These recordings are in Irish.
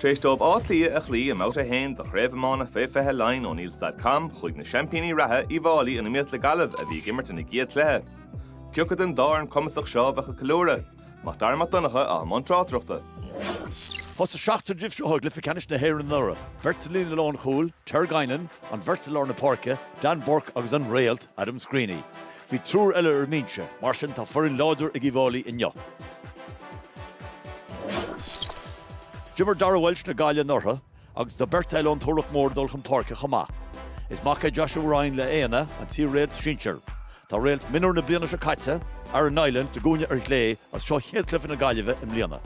Tar éis dóibh Áth Cliath a chloí i mbabhta a haon de Chraobh Iomána Fé 20 Laighean oneills.com, chuaigh na seaimpíní reatha, Uíbh Fhailí, in iomaíocht le Gaillimh a bhí ag imirt ina gcéad chluiche. Cé acu den dá fhoireann cumasach seo a bheadh ag ceiliúradh. Mac Dara Mac Donncha atá i mbun tráchtaireachta. Thosaigh seachtar díobh seo i gcluiche ceannais na hÉireann anuraidh, beirt sa líne lánchúil, Ter Guinan, an bheirt i lár na páirce, Dan Bourke agus an Réalt, Adam Screeney. Bhí triúr eile ar an mbinse, mar sin tá foireann láidir ag Uíbh Fhailí inniu. D'imir Darragh Walsh le Gaillimh anuraidh agus tá beirt eile ón Turlach Mór ag dul chun páirce chomh maith. Is mac é Joshua Ryan le Éanna, an t-iar-réalt sinsir. Tá réalt mionúr na bliana seo caite, Aaron Niland, sa gcúinne ar chlé is seo chéad chluiche na Gaillimhe i mbliana.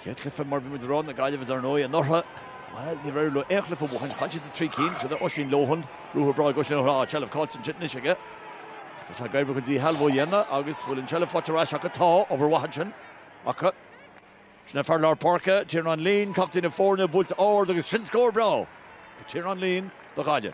Chéad chluiche mar bhí muid ag rá na Gaillimhe dar ndóigh anuraidh. Bhuel, ní raibh aon chluiche ó shin. Chaill siad i dtrí cinn. Sin é Oisín Lohan, ruathar breá ag Oisín ó thrá, seilbh caillte ansin anois aige. Ach tá sé ag éirí chun díshealbhú a dhéanamh agus bhfuil an tseilbh faighte ar ais acu? Tá, obair mhaith ansin acu. Sin é fear lár páirce, Tiarnán Leen, captaen na foirne, buailte ard agus sin scór breá ag Tiarnán Leen do Ghaillimh.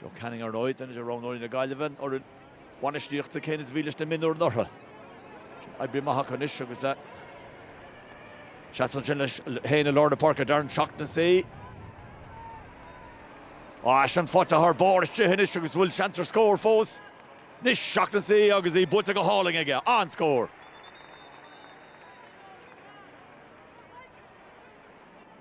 Joe Canning, Ar ndóigh, duine de roghnóirí na Gaillimhe an fhoireann bhainistíochta céanna is a bhí leis na mionúir anuraidh. Sin oibrithe go maith acu anois agus eh, seasamh ansin leis féin i lár na páirce Darren Shaughnessy. Á as an faighte thar barr isteach anois agus bhfuil seans ar scór fós. Anois Shaughnessy agus í buailte go hálainn aige, an scór.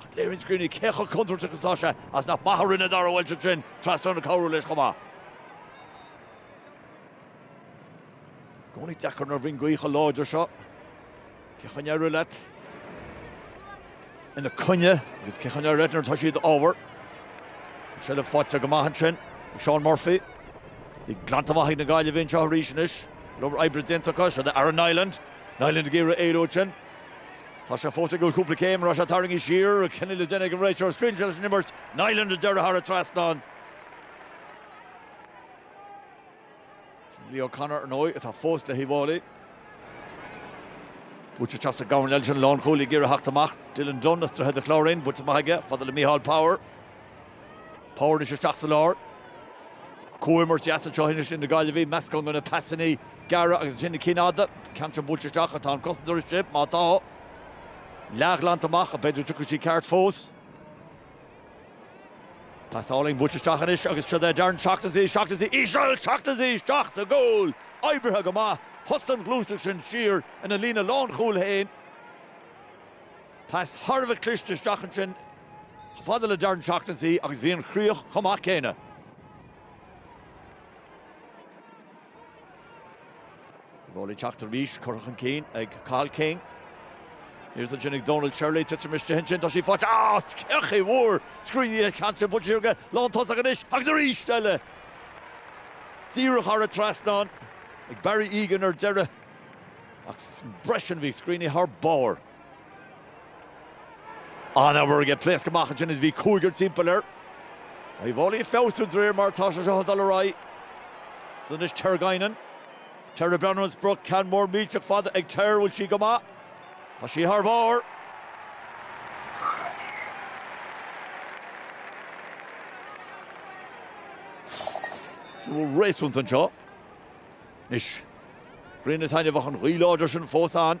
Ach léiríonn Screeney cé chomh contúirteach is atá sé as nach maith a rinne Darragh Walsh ansin, trasnán ag cabhrú leis chomh maith. I gcónaí deacair nuair a bhíonn gaoth chomh láidir seo. Cén chaoi a n-éireoidh leat ina coinne agus cén chaoi a n-éireoidh leat nuair atá sí i d'fhabhar? An seilbh faighte go maith ansin ag Seán Murphy. Í glanta amach ag na Gaillimhigh anseo arís anois. Go leor oibre déanta acu, siod é Aaron Niland. Niland ag iarraidh éalú ansin. Tá sé fós ag goil cúpla céim arís é á tharraingt siar, cinneadh le déanamh ag an réiteoir scaoilte leis an imirt, Niland ar deireadh thar an trasnán. Sin Leo Connor, ar ndóigh, atá fós le hUíbh Fhailí. Buaite go deas ag Gaillimh ansin, lánchúlaí ag iarraidh theacht amach, Dylan Dunne as Droichead an Chláirín, buailte amach aige, fada le Micheál Power. Power anois isteach sa lár. Comhimirt deas anseo anois idir na Gaillimhigh, meascán de na pasanna gearra agus ansin na cinn fhada. Ceann ansin buailte isteach ach tá an cosantóir istigh, má tá. Leathghlanta amach ach b'fhéidir dtiocfadh sí ceart fós. Pas álainn buailte isteach anois agus siod é Darren Shaughnessy, Shaughnessy, íseal, Shaughnessy isteach sa gcúl, oibrithe go maith, thosaigh an ghluaiseacht sin siar ina líne lánchúil féin. Pas thar a bheith cliste isteach ansin chomh fada le Darren Shaughnessy agus bhí an chríoch chomh maith céanna. Uíbh Fhailí ag teacht arís, curtha chun cinn ag Cathal King. Thíos ansin ag Donal Shirley, titim istigh ansin, tá sí faighte. Ah! Todhchaí mhór! Screeney an ceann sin, buailte siar go lán tosach anois agus arís eile! Díreach thar an trasnán ag Barry Egan ar deireadh ach roimhe sin bhí Screeney thar barr. An-obair aige. Pléasc amach ansin is bhí cúigear timpeall air. Uíbh Fhailí ag feabhsú de réir mar atá sé seo ag dul ar aghaidh. Anois Ter Guinan. Ter ag breathnú ar an sprioc. Ceann mór millteach fada ag Ter. Bhfuil sí go maith? Tá sí thar barr! Súil réasúnta anseo. Anois grian ag taitneamh ach an ghaoth láidir sin fós ann.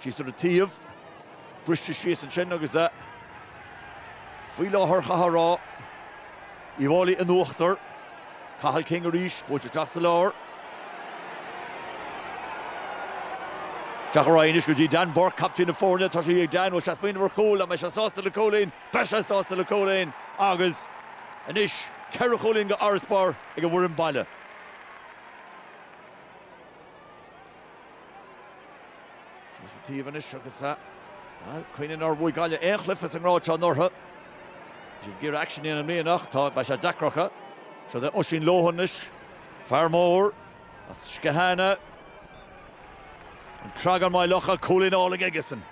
Síos ar an taobh, briste síos ansin agus faoi láthair chaithfeá a rá, Uíbh Fhailí in uachtar. Cathal King arís, buailte isteach sa lár. Isteach ar aghaidh anois go dtí Dan Bourke, captaen na foirne, tá sé ag Dan, bhfuil sé ag smaoineamh ar chúl, an mbeidh sé sásta le cúilín, beidh sé sásta le cúilín agus anois ceithre chúilín d'fharasbarr ag an bhfoireann baile. Síos an taobh anois agus bhuel cuimhnigh nár bhuaigh Gaillimh aon chluife sa ngrád seo anuraidh. Bhí siad ag iarraidh aicsean a dhéanamh i mbliana ach tá, beidh sé deacair orthu. Siúd é Oisín Lohan anois, fear mór as Skehana, An Creagán, Maigh Locha, cúilín álainn aigesean,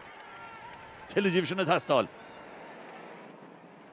tuilleadh díobh sin ag teastáil.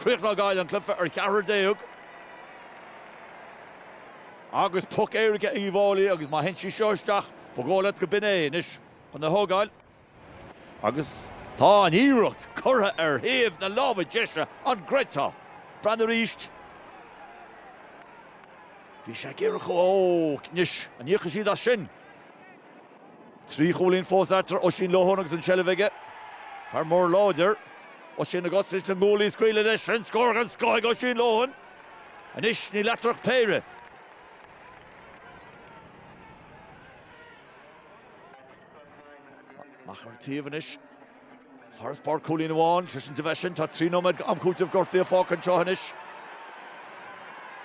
Críochnóidh Gaillimh an cluife ar cheathrar déag agus poc éirice ag Uíbh Fhailí agus má théann sí seo isteach ba dhóigh leat go b'in é anois chun é thógáil agus tá an iarracht curtha ar thaobh na láimhe deise, an gcreidfeá? Breathnaigh arís. Bhí sé ag iarraidh chomh. Ó! Anois, an íocfaidh siad as sin? Trí chúilín fós eatarthu, Oisín Lohan agus an tseilbh aige. Fear mór láidir. Oisín ag úsáid na nguaillí, scaoileadh leis, sin scór den scoth ag Oisín Lohan! Anois níl eatarthu ach péire. Amach ar an taobh anois. Farasbarr cúilín amháin, sé sin de bheith sin tá trí nóiméad d'am cúitimh gortaithe fágtha anseo anois.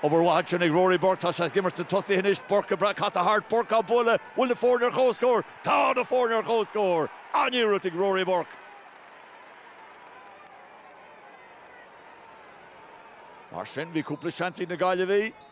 Obair mhaith ansin ag Rory Burke, tá sé ag imirt sna tosaithe anois, Burke ag brath casadh thart, Burke á bualadh, bhfuil na foirne ar chomhscór? Tá na foirne ar chomhscór! An-iarracht ag Rory Burke. Mar sin bhí cúpla seans ag na Gaillimhigh.